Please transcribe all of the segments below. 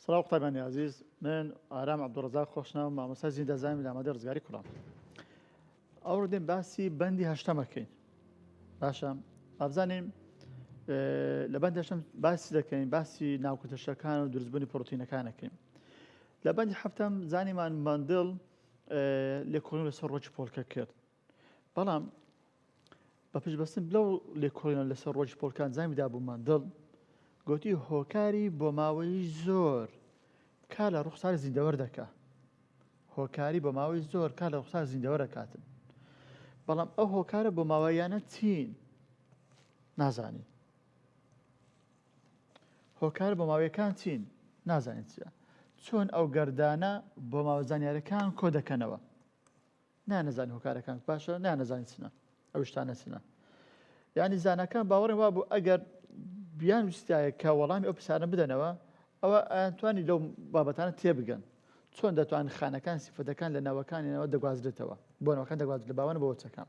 سڵاو قوتابیانی ئازیز من ئارام عبدالرزاق خۆشناو مامۆستا زیندە زامی لامادە ڕزگاری کوڕان ئەو ڕدێن باسی بەندی هەشتەمەکەین باشە ئابزانیم لە بەند هەشتم باسی دەکەین باسی ناوکوتەشەکان و دروستبوونی پرۆتینەکانەکەین لە بەندی هەفتم زانیمان مندڵ لێکۆڵین لەسەر ڕۆکی پۆلکە کرد بەڵام بە پشتبەستن بلەو لێکۆڵینەوە لەسەر ڕۆژی پۆڵکان زامی دابوو ماندڵ گوتی هۆکاری بۆ ماوەی زۆر کا لە ڕوخسار زیندەوەر دەکا هۆکاری بۆ ماوەی زۆر کا لە ڕوخسار زیندەوە دەکاتن بەڵام ئەو هۆکارە بۆ ماوەیانە چین نازانین هۆکار بۆ ماوەیەکان چین نازانین چیە چۆن ئەو گەردانە بۆ ماوە زانیارەکان کۆ دەکەنەوە نانەزانی هۆکارەکان باشە نانەزانی چنە ئەو شتانە چنە یعنی زانەکان باوەڕێ وا بوو ئەگەر بیان وستایە کە وەڵامی ئەو پرسیارە بدەنەوە ئەوە ئەتوانی لەو بابەتانە تێبگەن چۆن دەتوان خانەکان سیفەتەکان لە ناوەکانیانەوە دەگوازرێتەوە بۆ ناوەکان دەگوازرێت لە باوانە بۆچەکان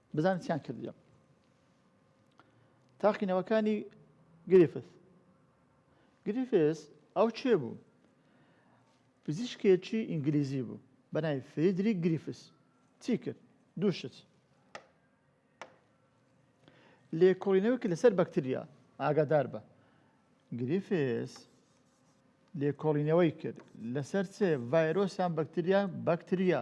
بزانە چیان کردیە تاقینەوەکانی گرفس گرفس ئەو چێ بوو پزیشکێکی ئینگلیزی بوو بەنای فیدری گریفس چی کرد دووشت لێکۆڵینەوەکی لەسەر بەکتریا ئاگادار بە گریفس لێکۆڵینەوەی کرد لەسەر چێ ڤایرۆسیان بەکتریا بەکتریا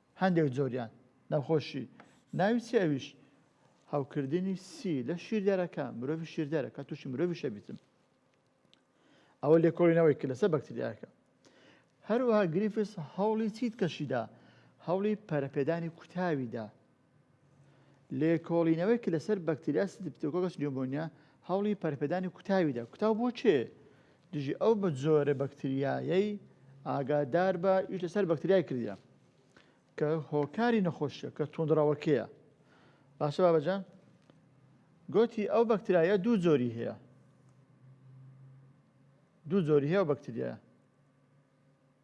هەندێک جۆریان نەخۆشی ناوی چی ئەویش هەوکردنی سی لە شیردەرەکە مرۆڤ شیردەرە کە تووشی مرۆڤ شەبیتم ئەوە لێکۆڵینەوەی کە لەسەر بەکتریاکە هەروەها گریفس هەوڵی چیت کەشیدا هەوڵی پەرەپێدانی کوتاویدا لێکۆڵینەوەیەک لەسەر بەکتریا ستریپتۆکۆکەس نیومۆنیا هەوڵی پەرپێدانی کوتاویدا کوتاو بۆ کێ دژی ئەو بە جۆرە بەکتریایەی ئاگادار بە ئیش لەسەر بەکتریای کردە کە هۆکاری نەخۆشیە کە توندڕەوەکەیە باشە بابەجان گوتی ئەو بەکتریایە دوو جۆری هەیە دوو جۆری هەیە بەکتریایە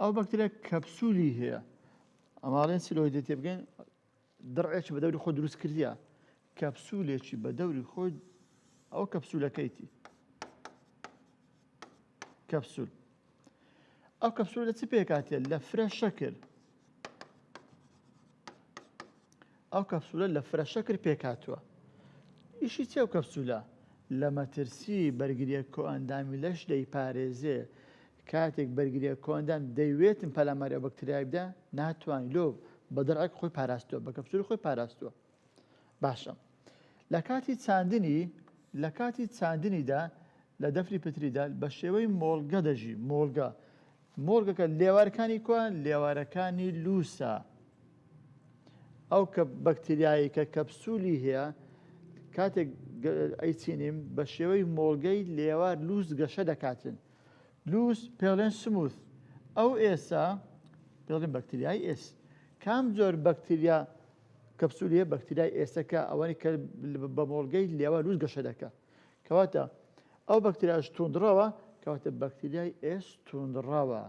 ئەو بەکترە کەپسولی هەیە ئەماڵێن سلۆی دێ تێ بگەین دڕێکی بە دەوری خۆ دروست کردە کەپسولێکی بە دەوری خۆی ئەو کەپسولەکەیتی کەپسول ئەو کەپسول لە چ پێکاتێ لە فرە شەکر ئەو کەپسولە لە فرە شەکر پێکاتوە ئیشی چێ و کەپسولە لە مەترسی بەرگریە کۆئەندامی لەش دەیپارێزێ کاتێک بەرگریە کۆندان دەیوێتن پەلاماری ئەو بەکتریای بدە ناتوانین لۆ بە دەڕێک خۆی پاراستووە بە کەپسول خۆی پاراستووە باشە لە کاتی چاندنی لە کاتی چاندنیدا لە دەفری پتریدا بە شێوەی مۆڵگە دەژی مۆڵگە مۆڵگەکە لێوارەکانی کوە لێوارەکانی لووسە ئەو کە بەکتریایی کە کەپسولی هەیە کاتێک ئەیچینیم بە شێوەی مۆڵگەی لێوار لووس گەشە دەکاتن لووس پێڵێن سموث ئەو ئێسا پێڵێن بەکتریای ئێس کام جۆر بەکتریا کەپسولیە بەکتریای ئێسەکە ئەوەنی کە بە مۆڵگەی لێوە لووس گەشە دەکا کەواتە ئەو بەکتریاش توندڕەوە کەواتە بەکتریای ئێس توندڕەوە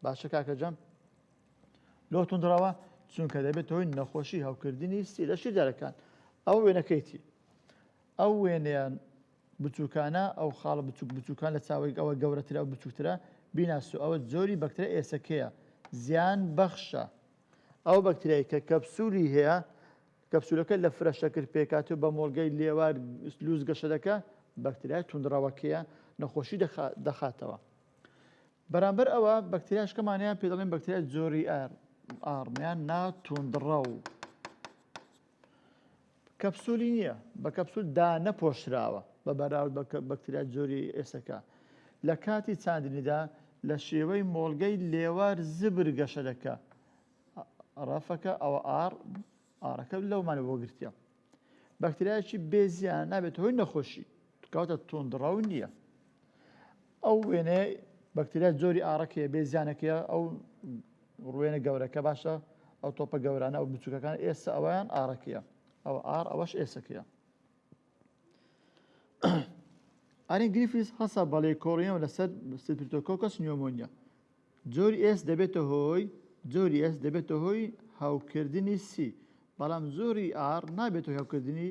باشە کاکە جەم لۆ توندڕەوە چونکە دەبێت هۆی نەخۆشی هەوکردنی سیرە شیدارەکان ئەو وێنەکەیتی ئەو وێنەیان بچووکانە ئەو خاڵە بچوک بچووکان لە چاوەی ئەوە گەورەترە و بچووترە بیناسو ئەوە زۆری بەکترە ئێسەکەیە زیان بەخشە ئەو بەکتریای کە کەپسولی هەیە کەپسولەکە لە فرە شەکر پێکاتو بە مۆڵگەی لێوار لووس گەشەدەکە بەکتریای توندڕەوەکەیە نەخۆشی دەخاتەوە بەرامبەر ئەوە بەکتریاشکەمانیان پێ دەڵێن بەکتریای زۆری ئار ئاڕمیان ناتوندڕە و کەپسولی نییە بە کەپسول دانەپۆشراوە بە بەراورد بە بەکتریا جۆری ئێسەکە لە کاتی چاندنیدا لە شێوەی مۆڵگەی لێوار زبر گەشە دەکە ڕەفەکە ئەوە ئار ئارەکە لەومانە بۆ گرتە بەکتریایکی بێزیان نابێت هۆی نەخۆشی کەواتە توندڕەو نییە. ئەو وێنەیە بەکتریا جۆری ئاڕەکەیە بێ زیانەکەیە ئەو ڕوێنە گەورەکە باشە ئەو تۆپە گەورانە و بچووکەکان ئێستا ئەویان ئارەکەیە ئەو ئار ئەوەش ئێسەکەیە ئارین گریفیس هەسا بەڵێ کۆڕیەوە لەسەر سپرتۆکۆکەس نیۆمۆنیا جۆری ئێس دەبێتە هۆی جۆری ئێس دەبێتە هۆی هاوکردنی سی بەڵام زۆری ئار نابێت هاوکردنی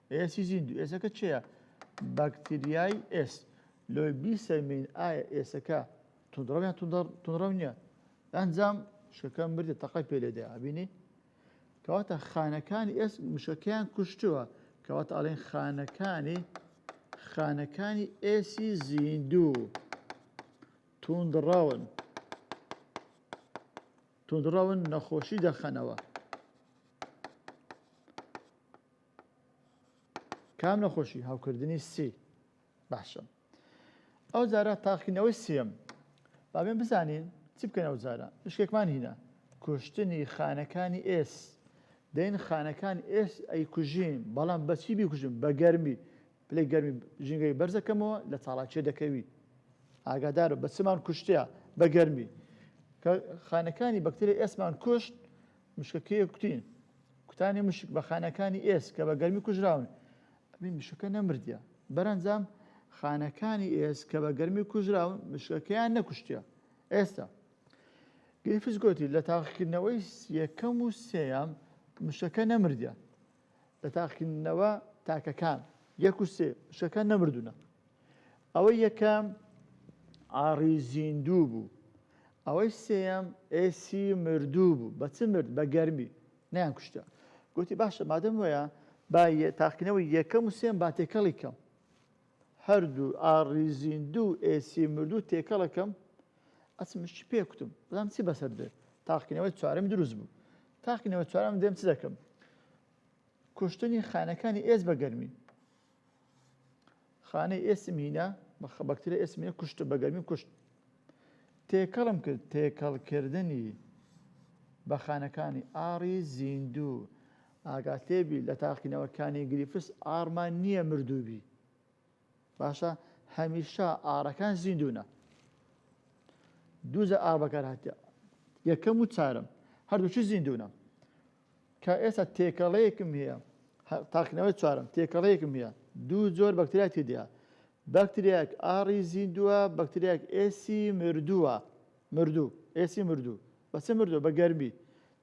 ئێسی زیندوو، ئێسەکە چێە؟ باکتریای ئێس. لۆی بیسەلمێین ئایا ئێسەکە توندڕەو یان توندڕەو نییە؟ ئەنجام شەکە مردە تەقەی پێ لێدا ئەبینی؟ کەواتە خانەکانی ئێس مشەکەیان کوشتووە کەواتە ئەڵێن خانەکانی خانەکانی ئێسی زیندوو توندڕەون توندڕەون نەخۆشی دەخەنەوە کام نەخۆشی هەوکردنی سی باشە ئەو جارە تاقینەوەی سیەم بابێن بزانین چی بکەن ئەو جارە شتێکمان هینە کوشتنی خانەکانی ئێس دەین خانەکان ئێس ئەی کوژین بەڵام بەچی بیکوژن بە گەرمی پلی گەرمی ژینگەی بەرزەکەمەوە لە چاڵاکیە دەکەوی ئاگادارە بە چمان کوشتە بە گەرمی خانەکانی بەکتری ئێسمان کوشت مشکەکەیە کوتی کوتانی مشک بە خانەکانی ئێس کە بە گەرمی کوژراون ئەبین مشکەکە نەمردە بەرەنجام خانەکانی ئێس کە بە گەرمی کوژراون مشکەکەیان نەکوشتە ئێستا گەیفز گوتی لە تاقیکردنەوەی یەکەم و سێیان مشکەکە نەمردە لە تاقیکردنەوە تاکەکان یەک و سێ شەکان نەمردونە ئەوەی یەکەم ئاڕی زیندوو بوو ئەوەی سێم ئێسی مردوو بوو بە چ مرد بە گەرمی نیان کوشتە گوتی باشە مادەم وەیە با تاقینەوەی یەکەم و سێم با تێکەڵی کەم هەردوو ئاڕی زیندوو و ئێسی مردوو تێکەڵەکەم ئەچم چ پێ کوتم بزانم چی بەسەر دێ تاقینەوەی چوارەم دروست بوو تاقینەوە چوارەم دێم چ دەکەم کوشتنی خانەکانی ئێس بە گەرمی خانەی ئێسم هینا بە خەبەکترە ئێسمە کوشت بە گەرمی کوشت تێکەڵم کرد تێکەڵکردنی بە خانەکانی ئاڕی زیندوو ئاگات لێ بی لە تاقینەوە کانی گریفس ئاڕمان نییە مردوو بی باشە هەمیشە ئاڕەکان زیندونە دووجە ئاڕ بەکار هاتە یەکەم و چارم هەردووچی زیندونە کە ئێستا تێکەڵەیەکم هەیە تاقینەوەی چارم تێکەڵەیەکم هەیە دوو زۆر بەکتریا تێدیا بەکتریاک ئاڕی زیندووە بەکتریاک ئێسی مردووە مردوو ئێسی مردوو بەچە مردوو بە گەرمی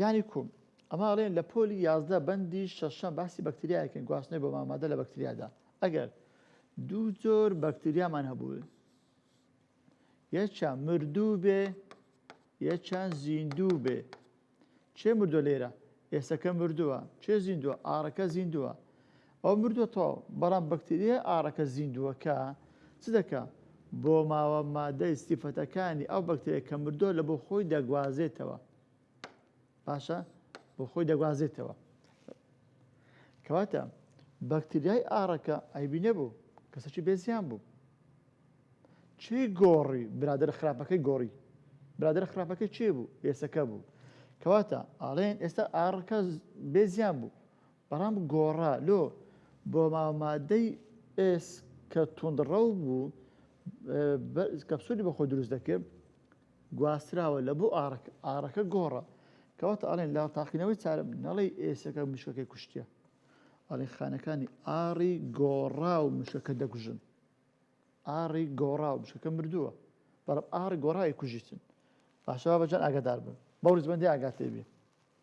یانی کوم؟ ئەمە ئەڵێن لە پۆلی یازدە بەندی شەشەم باسی بەکتریایەکەن گواستنەوەی بۆ مامادە لە بەکتریادا ئەگەر دوو جۆر بەکتریامان هەبوو یەکیان مردوو بێ یەکیان زیندوو بێ چێ مردووە لێرە ئێسەکە مردووە چێ زیندووە ئاڕەکە زیندووە ئەو مردوەتەوە بەڵام بەکتریای ئاڕەکە زیندووەکە چ دەکا؟ بۆ ماوە مادەی سیفەتەکانی ئەو بەکتریای کە مردووە لە بۆ خۆی دەگوازێتەوە باشە بۆ خۆی دەگوازێتەوە کەواتە بەکتریای ئاڕەکە ئایبی نەبوو کەسەکی بێزیان بوو چی گۆڕی برادر خراپەکەی گۆڕی برادر خراپەکە چێ بوو ئێسەکە بوو کەواتە ئاڵێن ئێستا ئاڕکە بێزیان بوو بەڵام گۆڕا لۆ بۆ ماوە مادەی ئێس کە توندڕەو بوو کەپسولی بەخۆ دروست دەکرد گواستراوە لە بۆ ئارک ئارەکە گۆڕە کەواتە ئەڵێن لا تاقینەوەی چارە نەڵی ئێسەکە مشکەکەی کوشتە ئەڵێ خانەکانی ئاری گۆڕا و مشکەکە دەگوژن ئاری گۆڕا و مشکەکە مردووە بەڵام ئاری گۆڕای کوژیتن باشەوە بەجان ئاگادار بن بەو ریزبندی ئاگاتێبێ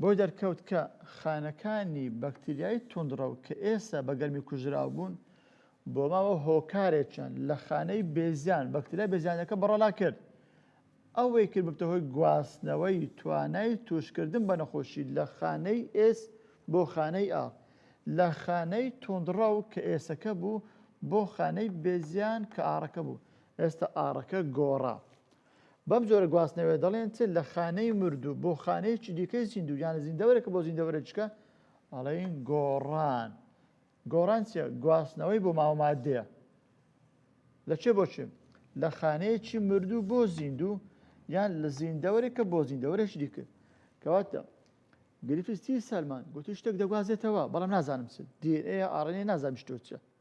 بۆی دەرکەوت کە خانەکانی بەکتریای توندڕەو کە ئێستا بە گەرمی کوژراو بوون، بۆ ماوە هۆکارێکیان لە خانەی بێزیان، بەکتریای بێزیانەکە بەڕەڵا کرد. ئەوەی کرد ببتە هۆی گواستنەوەی توانای تووشکردن بە نەخۆشی لە خانەی ئێس بۆ خانەی ئاڕ، لە خانەی توندڕەو کە ئێسەکە بوو بۆ خانەی بێزیان کە ئاڕەکە بوو. ئێستا ئاڕەکە گۆڕا. بەم جۆرە گواستنەوەیە دەڵێن چ لە خانەی مردوو بۆ خانەیەکی دیکەی زیندوو یان لە زیندەوەرێکە بۆ زیندەوەرەجکە ئەڵین گۆڕان گۆڕان چیە گواستنەوەی بۆ ماوەمادەیە لە چێ بۆچێ لە خانەیەکی مردوو بۆ زیندوو یان لە زیندەوەرێکە بۆ زیندەوەرێک دیکرد کەواتە گرفستی سەلمان گوتی شتێک دەگوازێتەوە بەڵام نازانم چ دیێ ئاڕێنێ نازانم شتۆچە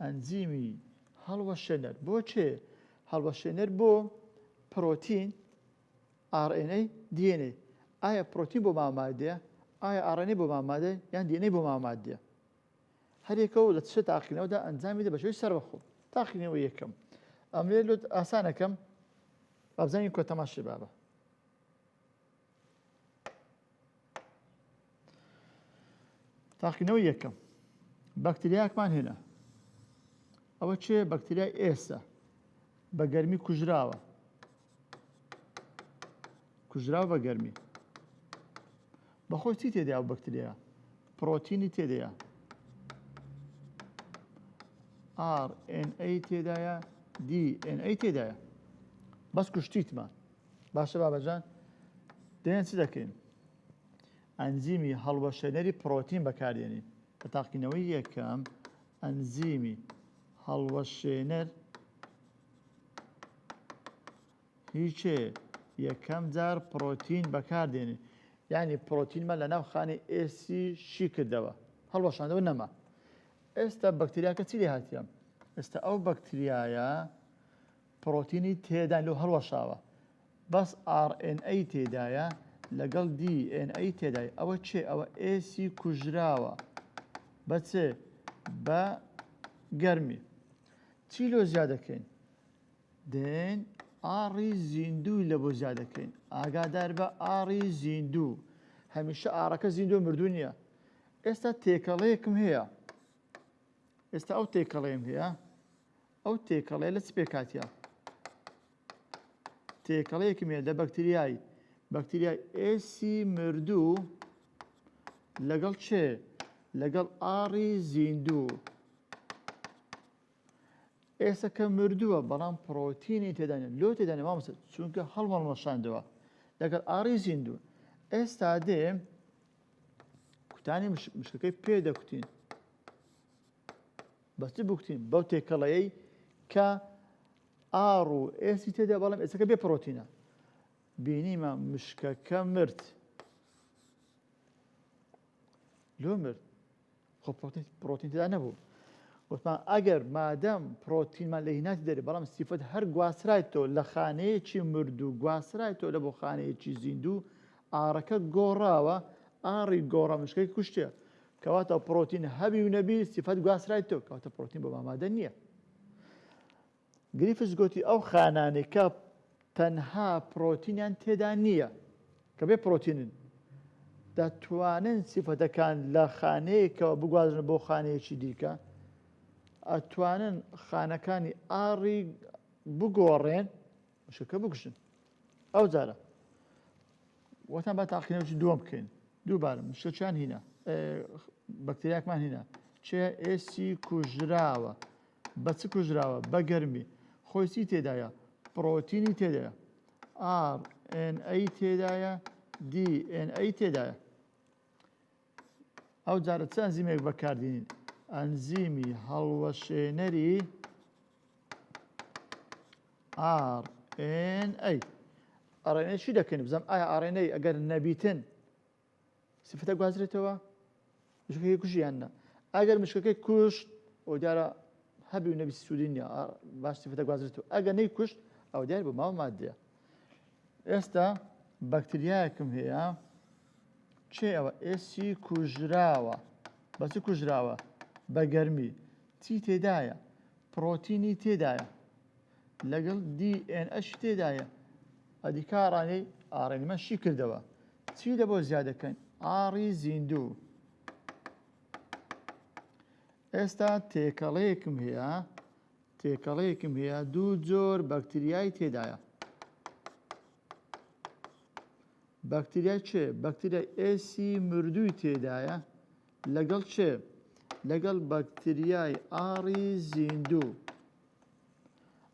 ئەنزیمی هەڵوەشێنەر بۆ چ؟ هەڵوەشێنەر بۆ پرۆتین، RNA، DNA. ئایا پرۆتین بۆ ماوە ماددەیە؟ ئایا RNA بۆ ماوە ماددەیە؟ یان DNA بۆ ماوە ماددەیە؟ هەرێکە و لە چ تاقینەوەدا ئەنجامی دە بەشێوی سەربەخۆ. تاقینەوە یەکەم. ئەمرێ لۆت ئاسانەکەم. بابزانین کۆ تەماشێ بابە. تاقینەوەی یەکەم بەکتریاکمان هێنا ئەوە چێ بەکتریای ئێستا بە گەرمی کوژراوە کوژراو بە گەرمی بەخۆی چی تێدا و بەکتریا پرۆتینی تێدەیە RNA تێدایە DNA تێدایە بەس کوشتیتمان باشە بابەجان دێن چ دەکەین ئەنزیمی هەڵوەشێنەری پرۆتین بەکاردێنین کە تاقینەوەی یەکەم ئەنزیمی هەڵوەشێنەر هیچێ یەکەم جار پرۆتین بەکاردێنێ ینی پرۆتینمە لە ناو خانی ئێسی شی کردەوە هەڵوەشاندەوە نەما ئێستا بەکتریاکە چی لێ هاتیان ئێستا ئەو بەکتریایە پڕۆتینی تێدا لۆ هەڵوەشاوە بەس ئاڕ ئێن ئەی تێدایە لەگەڵ دی ئێن ئەی تێدای ئەوە چێ ئەوە ئێسی کوژراوە بە چ بە گەرمی چی لۆ زیادەکەین دێن ئاڕی زیندووی لە بۆ زیادەکەین ئاگادار بە ئاڕی زیندوو هەمیشە ئاڕەکە زیندۆ مردو نییە ئێستا تێکەڵەیەکم هەیە ئێستا ئەو تێکەڵێم هەیە ئەو تێکەڵەیە لە چ پێکهاتیە؟ تێکەڵەیەکم هەیە لە بەکتریایی بەکتریای ئێسی مردوو لەگەڵ چێ لەگەڵ ئاڕی زیندوو ئێسەکە مردووە بەڵام پرۆتینی تێدانە لۆ تێدانە مامسە چونکە هەڵمەڵمەشاندەوە لەگەڵ ئاڕی زیندوو ئێستا دێ کوتانی مشکەکەی پێ دەکوتین بەچ بکتین بەو تێکەڵەیەی کە ئاڕ و ئێسی تێدا بەڵام ئێسەکە بێ پرۆتینە بینیمە مشکەکە مرد لۆ مرد خۆ پرۆتین تێدا نەبوو وتمان ئەگەر مادەم پرۆتینمان لە هیناتی دەێت بەڵام سیفەت هەر گواسرایتەوە لە خانەیەکی مرد و گواسرایتەوە لە بۆ خانەیەکی زیندوو ئارەکە گۆڕاوە ئاری گۆڕە مشکەی کوشتێ کەواتە پرۆتین هەبی و نەبی سیفەت گواسترایتەوە کەواتە پرۆتین بۆ مامادە نییە گریفس گوتی ئەو خانانەی کە تەنها پرۆتینیان تێدا نییە کە بێ پرۆتینن دەتوانن سیفەتەکان لە خانەیەکەوە بگوازن بۆ خانەیەکی دیکە ئەتوانن خانەکانی ئاڕی بگۆڕێن مشکەکە بکوژن ئەو جارە وەتان با تاقینەوەی دووەم بکەین دووبارە مشکەچیان هینا بەکتریاکمان هینا چێ ئێسی کوژراوە بە چ کوژراوە بە گەرمی خۆیسی تێدایە پرۆتینی تێدایە ئاڕ ئەی تێدایە دی ئەی تێدایە ئەو جارە چ ئەنزیمێک بەکاردێنین ئەنزیمی هەڵوەشێنەری RNA ئەڕێنەی چی دەکەین بزم ئایا ئاڕێنەی ئەگەر نەبیتن سفتە گوازرێتەوە مشکەکەی کوژیان نە ئەگەر مشکەکەی کوشت ئەو دیارە هەبی و نەبی سوودی نیە باش سفتە گوازرێتەوە ئەگە نەی کوشت ئەو دیار بۆ ماوە مادەیە ئێستا بەکتریایەکم هەیە کێ ئەوە ئێسی کوژراوە بە چ کوژراوە بە گەرمی چی تێدایە پرۆتینی تێدایە لەگەڵ DNS تێدایە ئەدی کارانەی ئاڕێنمە شی کردەوە چی لە بۆ زیادەکەن ئاڕی زیندوو ئێستا تێکەڵەیەکم هەیە تێکەڵەیەکم هەیە دوو جۆر بەکتریای تێدایە بەکتریای چێ بەکتریای ئێسی مردووی تێدایە لەگەڵ چێ لەگەڵ بەکتریای ئاڕی زیندوو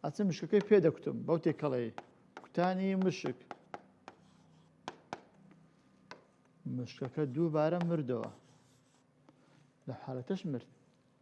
ئەچە مشکەکەی پێ دەکوتم بەو تێکەڵەی کوتانی مشک مشکەکە دووبارە مردەوە لە حالەتەش مرد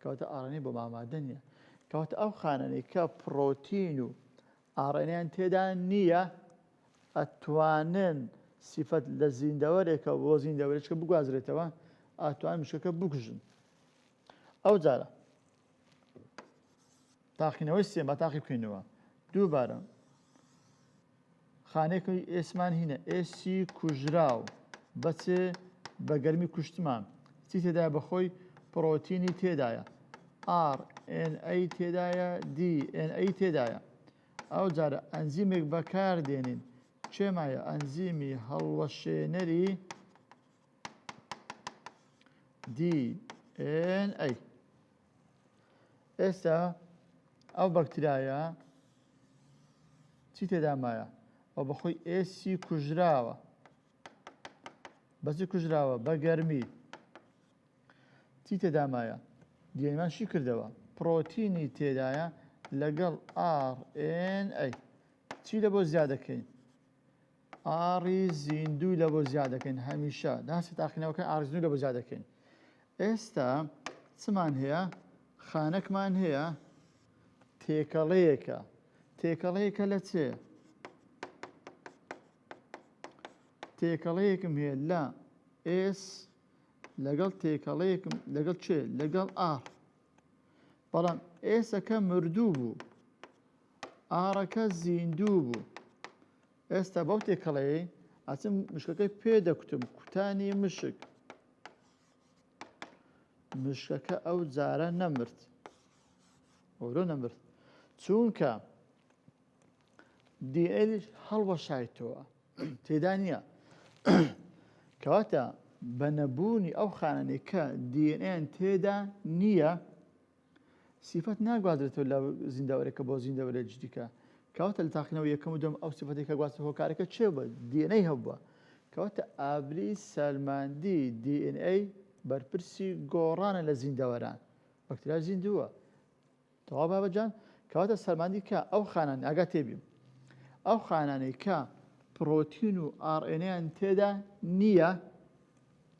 کەواتە ئاڕێنەی بۆ مامادە نییە. کەواتە ئەو خانانەی کە پڕۆتین و ئاڕێنەیان تێدا نییە ئەتوانن سیفەت لە زیندەوەرێکە بۆ زیندەوەرێکە بگوازرێتەوە ئاتوان مشکەکە بکوژن ئەو جارە تاقینەوەی سێ با تاقی بکەینەوە دووبارە خانێکی ئێسمان هینە ئێسی کوژراو بەچێ بە گەرمی کوشتمان چی تێدایە بەخۆی پرۆتینی تێدایە RNA تێدایە DNA تێدایە ئەو جارە ئەنزیمێک بەکار دێنین چێمایە ئەنزیمی هەڵوەشێنەری DNA ئێستا ئەو بەکترایە چی تێدا مایە ئەو بەخۆی ئێسی کوژراوە بەچی کوژراوە بە گەرمی چی تێدا مایە دیێمان شی کردەوە پرۆتینی تێدایە لەگەڵ ئاڕ ئێن ئەی چی لە بۆ زیادەکەین ئاڕی زیندووی لە بۆ زیا دەکەین هەمیشە داسی تاقینەوەکە ئاڕزنوو لە بۆ زیا دەکەین ئێستا چمان هەیە خانەکمان هەیە تێکەڵەیەکە تێکەڵەیەکە لە چێ تێکەڵەیەکم هەیە لە ئێس لەگەڵ تێکەڵەیەکم لەگەڵ چێ لەگەڵ ئاڕ بەڵام ئێسەکە مردوو بوو ئاڕەکە زیندوو بوو. ئێستا بەو تێکەڵەیەی ئەچم مشکەکەی پێ دەکوتم کوتانی مشک مشکەکە ئەو جارە نەمرد ئەورۆ نەمرد چونکە دیئل هەڵوەشایتەوە تێدا نییە کەواتە بە نەبوونی ئەو خانەنێکە دیئن تێدا نییە سیفەت ناگوازرێتەوە لە زیندەوەرێکە بۆ زیندەوەرێکی دیکە کەواتە لە تاقینەوە یەکەم و دوم ئەو سیفەتی کە گواستە هۆکارەکە چێ بە دیێنەی هەبووە کەواتە ئابری سەلماندی DNA بەرپرسی گۆڕانە لە زیندەوەران بەکتریا زیندووە تەوا بابەجان کەواتە سەلماندی کە ئەو خانان ئاگا تێبیم ئەو خانانەی کە پرۆتین و ئاڕێنیان تێدا نییە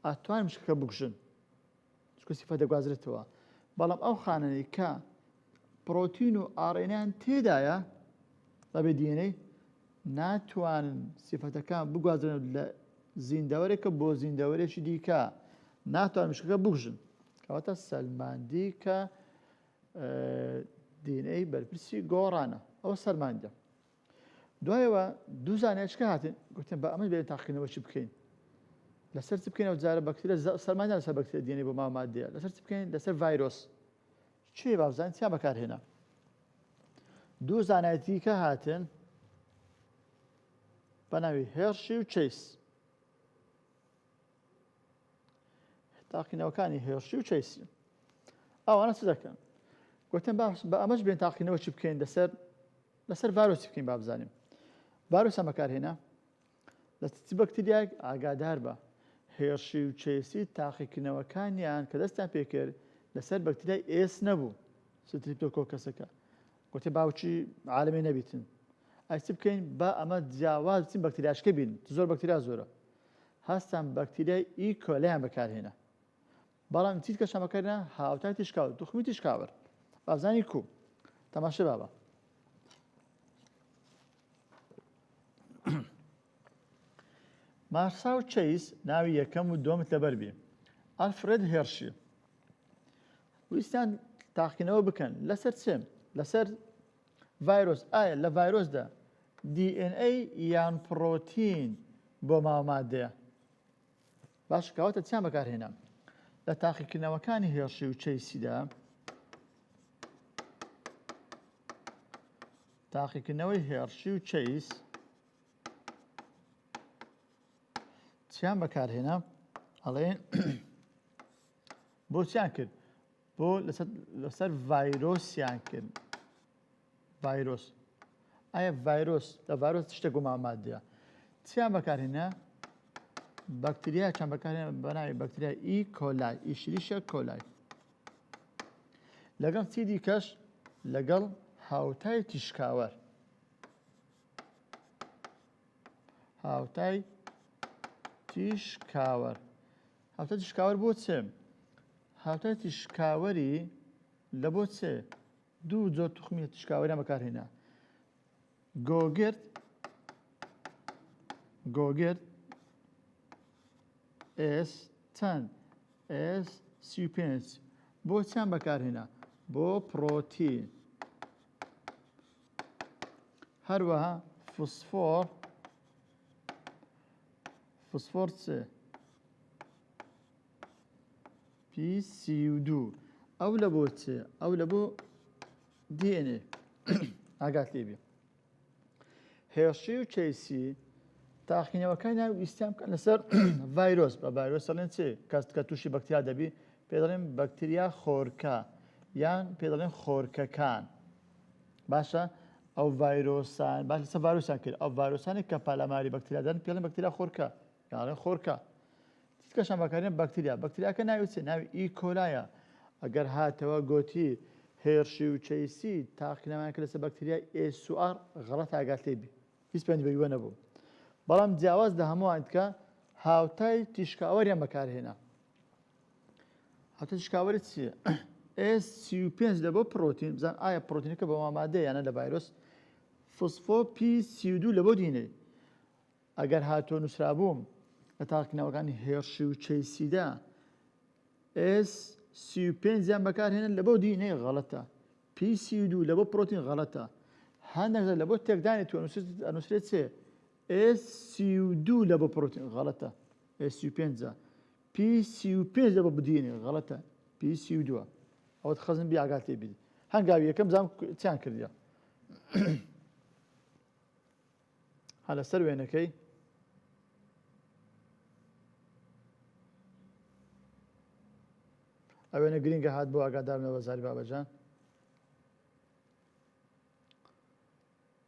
ئاتوان مشکەکە بکوژن چونکە سیفە دەگوازرێتەوە بەڵام ئەو خانەی کە پرۆتین و ئاڕێنیان تێدایە بەبێ دیێنەی ناتوانن سیفەتەکان بگوازرن لە زیندەوەرێکە بۆ زیندەوەرێکی دیکە ناتوان مشکەکە بگژن کەواتە سەلماندی کە دینەی بەرپرسی گۆڕانە ئەوە سەرماندە دوایەوە دوو زانایچکە هاتن گوتن بە ئەمەش بێن تاقیکردنەوەشی بکەین لەسەر چ بکەین ئەو جارە بەکترە سەرمایدا لەسەر بەکترە دێنێ بۆ مامادەیە لەسەر چ بکەین لەسەر ڤایرۆس چێ بابزانین چیان بەکارهێنا دوو زانایەتیکە هاتن بە ناوی هێرشی و چیس تاقینەوەکانی هێرشی و چیسی ئەوانە چ دەکەن گوتن باش بە ئەمەش بێن تاقینەوە چی بکەین لەسەر لەسەر ڤایرۆسی بکەین با بزانین ڤایرۆسیان بەکارهێنا لە چ بەکتریایەک ئاگادار بە هێرشی و چێسی تاقیکردنەوەکانیان کە دەستیان پێکرد لەسەر بەکتریای ئێس نەبوو ستریپتۆکۆکەسەکە گوتێ باوچی عالمی نەبیتن ئەی چ بکەین با ئەمە جیاواز بچین بەکتریاشکە بین زۆر بەکتریا زۆرە هەستان بەکتریای ئی کۆلیان بەکارهێنا بەڵام چیتکە شەمەکە نا هاوتای تیشکاو توخمی تیشکاوەر بابزانی کو تەماشە بابە مارسا و چەیس ناوی یەکەم و دۆمت لەبەر بێ ئەلفرێد هێرشی ویستان تاقینەوە بکەن لەسەر چێ لەسەر ڤایرۆس ئایا لە ڤایرۆسدا DNA یان پرۆتین بۆ ماوەمادەیە باش کەواتە چیان بەکارهێنا لە تاقیکردنەوەکانی هێڵشی و چەیسیدا تاقیکردنەوەی هێڕشی و چەیس چیان بەکارهێنا ئەڵێن بۆ چیان کرد بۆ لەسەر ڤایرۆسیان کرد ڤایرۆس ئایا ڤایرۆس لە ڤایرۆس شتە گومان مادەیە چیان بەکارهێنا بەکتریا چەند بەکارێن بەناوی بەکتریا ئی e. کۆلای ئیشریشە e. کۆلای لەگەڵ چی دیکەش لەگەڵ هاوتای تیشکاوەر هاوتای تیشکاوەر هاوتای تیشکاوەر بۆ چێ؟ هاوتای تیشکاوەری لە بۆ چێ دوو جۆر توخمی تیشکاوەریان بەکارهێنا گۆگرد گۆگرد ئێس چەند ئێس سی پێنج بۆ چیان بەکارهێنا بۆ پرۆتین هەروەها فسفۆر فسفۆڕ سێ پی سی و دوو ئەو لە بۆ چێ ئەو لە بۆ دیێنێ ئاگات لێبێ هێشی و چەیسی تاقینەوەکان ناو ئیسیان بکەن لەسەر ڤایرۆس بە ڤایرۆس دەڵێن چێ کەست کە تووشی بەکتیا دەبی پێ دەڵێن بەکتریا خۆرکە یان پێ دەڵێن خۆرکەکان باشە ئەو ڤایرۆسان باش لەسەر ڤایرۆسیان کرد ئەو ڤایرۆسانێک کە پالاماری بەکتریا دەن پێڵێن بەکتریا خۆرکە یاڵێن خۆرکە تیتکەشان بەکارێن بەکتریا بەکتریاکە ناوی چێ ناوی ئی کۆلایە ئەگەر هاتەوە گۆتی هێرشی و چەیسی تاقینەوەیان کرد لەسەر بەکتریای ئێسوار غەڵەت ئاگات لێ بی هیچ پەیوەندی بە یوە نەبوو بەڵام جیاواز لە هەمووان دیکە هاوتای تیشکاوەریان بەکارهێنا هەتە شکاوەری چیە؟ ئێس سی و پێنج لە بۆ پرۆتین بزان ئایا پرۆتینەکە بە مامادە یانە لە ڤایرۆس فسفۆ پی سی و دوو لە بۆ دینەی ئەگەر هاتۆ نووسرابووم لە تاقنەوەکانی هێرشی و چەیسیدا ئێس سی و پێنجیان بەکارهێنن لە بۆ دینەی غەڵەتە پی سی و دوو لە بۆ پرۆتین غەڵەتە هەندێک لە بۆ تێکدانی تو ئەنووسێت چێ ئێ سی و دوو لە بە پڕۆتین غەڵەتە ئێ سی و پێنجە پی سی و پێنج لە بە بدینێ غەڵەتە پی سی و دووە ئەوەت خەزم بی ئاگات لێ بیت هەنگاوی یەکەم زام چیان کردە هە لەسەر وێنەکەی ئەوێنە گرنگە هات بۆ ئاگادارنەوە زاری بابەجان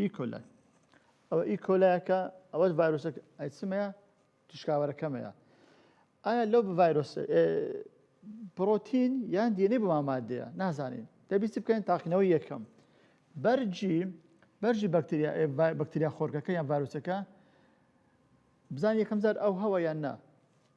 ئیکۆلای ئەوە ئیکۆلایەکە ئەوەش ڤایرۆسە ئەیسمەیە تشکاوەرەکەمەیە ئایا لەو ڤایرۆس پرۆتین یان دیێنەی بۆ مامادەیە نازانین دەبیستی بکەین تاقینەوەی یەکەم بەرجی بەرژی بەکتریا بەکتریا خۆرکەکە یان ڤایرۆسەکە بزان یەکەم جار ئەو هەوە یان نا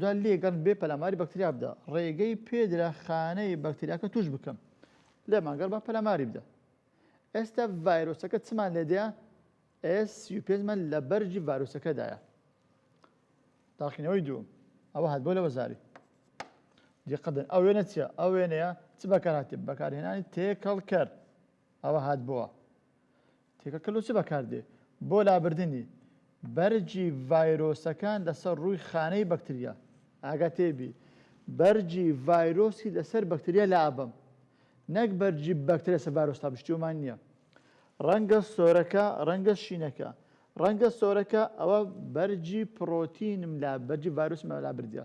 دوای لێکدان بێ پەلاماری بەکتریا بدە، ڕێگەی پێدرا خانەی بەکتریاکە تووش بکەن، لێمان گەڕ با پەلاماری بدە. ئێستا ڤایرۆسەکە چمان لێدەیە؟ ئێس سی و پێنج مان لە بەرگی ڤایرۆسەکەدایە. تاقینەوەی دووم ئەوە هات بۆ لە وەزاری دیقەدن ئەو وێنە چیە ئەو وێنەیە چ بەکارهاتێ بەکارهێنانی تێکەڵکەر ئەوە هات بووە تێکەکە لۆ چ بەکاردێ؟ بۆ لابردنی بەرگی ڤایرۆسەکان لەسەر ڕووی خانەی بەکتریا. ئاگاتێ بی بەرگی ڤایرۆسی لەسەر بەکتریا لابەم نەک بەرگی بەکتریا لەسەر ڤایرۆس تا بشتیومان نیە. ڕەنگە سۆرەکە ڕەنگە شینەکە ڕەنگە سۆرەکە ئەوە بەرگی پڕۆتینم لا بەرگی ڤایرۆسم لابردیە.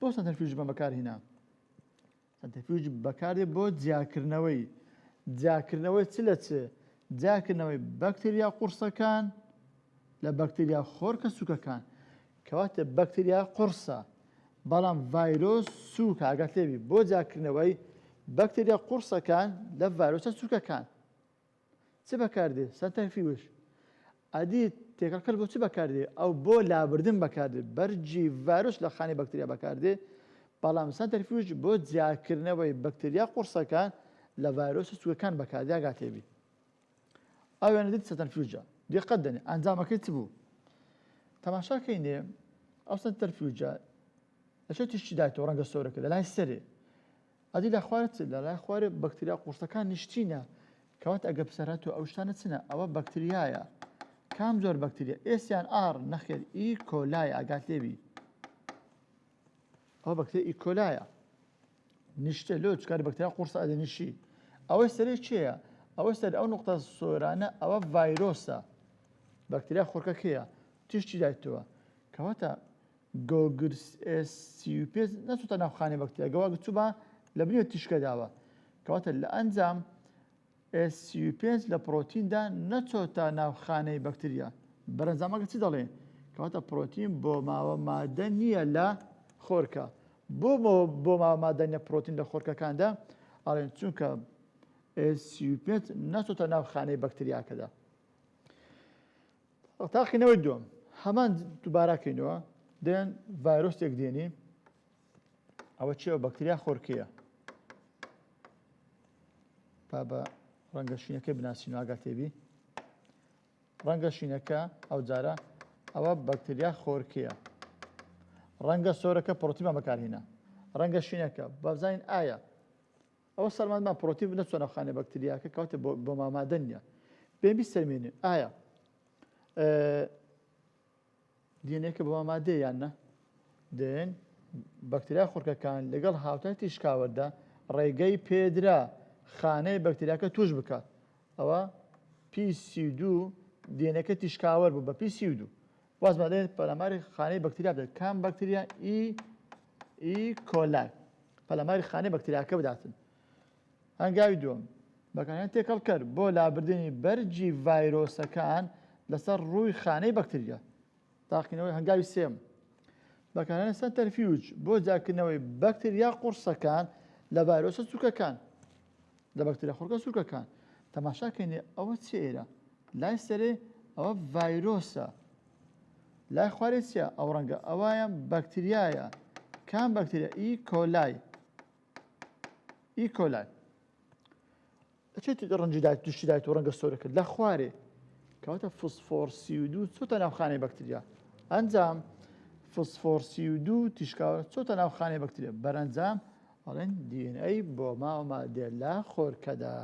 بۆ سەنتەرفیوژ بە بەکارهینا سەنتەرفیوژ بەکاردێ بۆ جیاکردنەوەی جیاکردنەوەی چ لە چ جیاکردنەوەی بەکتریا قورسەکان لە بەکتریا خۆرکە سوکەکان کەواتە بەکتریا قورسە بەڵام ڤایرۆس سووک ئاگات لێبی بۆ جاکردنەوەی بەکتریا قورسەکان لە ڤایرۆسە سوکەکان چ بەکاردێ سەنتەر فیوش ئەدی تێکەڵکەر بۆ چ بەکاردێ ئەو بۆ لابردن بەکاردێ بەرگی ڤایرۆس لە خانەی بەکتریا بەکاردێ بەڵام سەنتەر فیوش بۆ جیاکردنەوەی بەکتریا قوڕسەکان لە ڤایرۆس و سووەکان بەکاردیا گاتێبی ئەو وێنە دیت سەتەر فیوجە دیقەت دەنێ ئەنجامەکەی چ بوو تەماشاکەی نێ ئەو سەنتەر فیوجە لە چێ تیشتی دایتەوە ڕەنگە سۆرەکە لە لای سەرێ ئەدی لە خوارە چ؟ لە لای خوارێ بەکتریا قورسەکان نیشتینە کەوات ئەگە پسەرە تۆ ئەو شتانە چنە ئەوە بەکتریایە کام زۆر بەکتریا ئێسیان ئار نەخێر ئی کۆلای ئاگات لێبی ئەو بەکتری ئی کۆلایە نیشتە لۆ چکار بەکتریا قورسە ئەدە نیشی ئەوەی سەرێ چێە ئەوە سەر ئەو نقطە سۆرانە ئەوە ڤایرۆسە بەکتریا خۆرکەکەیە تیشتی دایتەوە کەواتە گۆگرس ئێس سی و پێنج نەچۆتە ناو خانەی بەکتریا گەوە ئەگەر چووبا لە بنێو تیشکە دابا کەواتە لە ئەنجام ئێس سی و پێنج لە پڕۆتیندا نەچۆتە ناو خانەی بەکتریا بەرەنجامەکە چی دەڵێ کەواتە پڕۆتین بۆ ماوە مادە نییە لە خۆرکە بۆ بۆ ماوە مادە نیە پڕۆتین لە خۆرکەکاندا ئاڵێن چونکە ئێس سی و پێنج نەچۆتە ناو خانەی بەکتریاکەدا تاقینەوەی دووەم هەمان دووباراکەینەوە دێن ڤایرۆستێک دێنی ئەوە چێوە بەکتریا خۆرکەیە تا بە ڕەنگە شینەکە بناسین ئاگا تێبی ڕەنگە شینەکە ئەو جارە ئەوە بەکتریا خۆرکەیە ڕەنگە سۆرەکە پرۆتیمە بەکارهێنا ڕەنگە شینەکە بەزانین ئایا ئەوە سەلماند مان پرۆتین نەچۆ ناو خانە بەکتریاکە کەواتە بۆ مامادە نیە بێ بیسەرمێنێ ئایا دینێکە بۆ مامادێ یان نە دێن بەکتریا خورکەکان لەگەڵ هاوتای تیشکاوەدا ڕێگەی پێدرا خانەی بەکتریاکە توش بکات ئەوە پیسی دوو دێنەکە تیشکاوەر بوو بە پیسی دوو وازمان دەێت پەلاماری خانەی بەکتریا بدات کام بەکتریا ئی ئی کۆلای پەلاماری خانەی بەکتریاکە بداتن هەنگاوی دوم بەکانیان تێکەڵکەر بۆ لابردنی بەرجی ڤایرۆسەکان لەسەر ڕووی خانەی بەکتریا تاقینەوەی هەنگاوی سێم بەکارانە سەنتەرفیوج بۆ جاکردنەوەی بەکتریا قورسەکان لە ڤایرۆسە چووکەکان لە بەکتریا خورکە سورکەکان تەماشا کەینێ ئەوە چێرە لای سەرێ ئەوە ڤایرۆسە لای خوارێ چیە ئەو ڕەنگە ئەوەیان بەکتریایە کام بەکتریا ئی کۆلای ئی کۆلای چێت ڕەنجدایت توشتدایت و ڕەنگە سۆرەکە لە خوارێ کەواتە فسفۆرسی و دوو چۆتە ناوخانەی بەکتریا ئەنجام فسفۆرسی و دوو تیشکاوە چۆتە ناوخانەی بەکتریا بەرەنجام ئەڵێن دی ئێن ئەی بۆ ماوە مادێ لە خۆرکەدا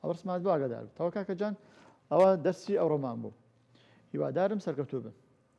ئەو ڕسمات بۆ ئاگادار بتەوە کاکە جان ئەوە دەرسی ئەوڕۆمان بوو هیوادارم سەرکەوتوو بن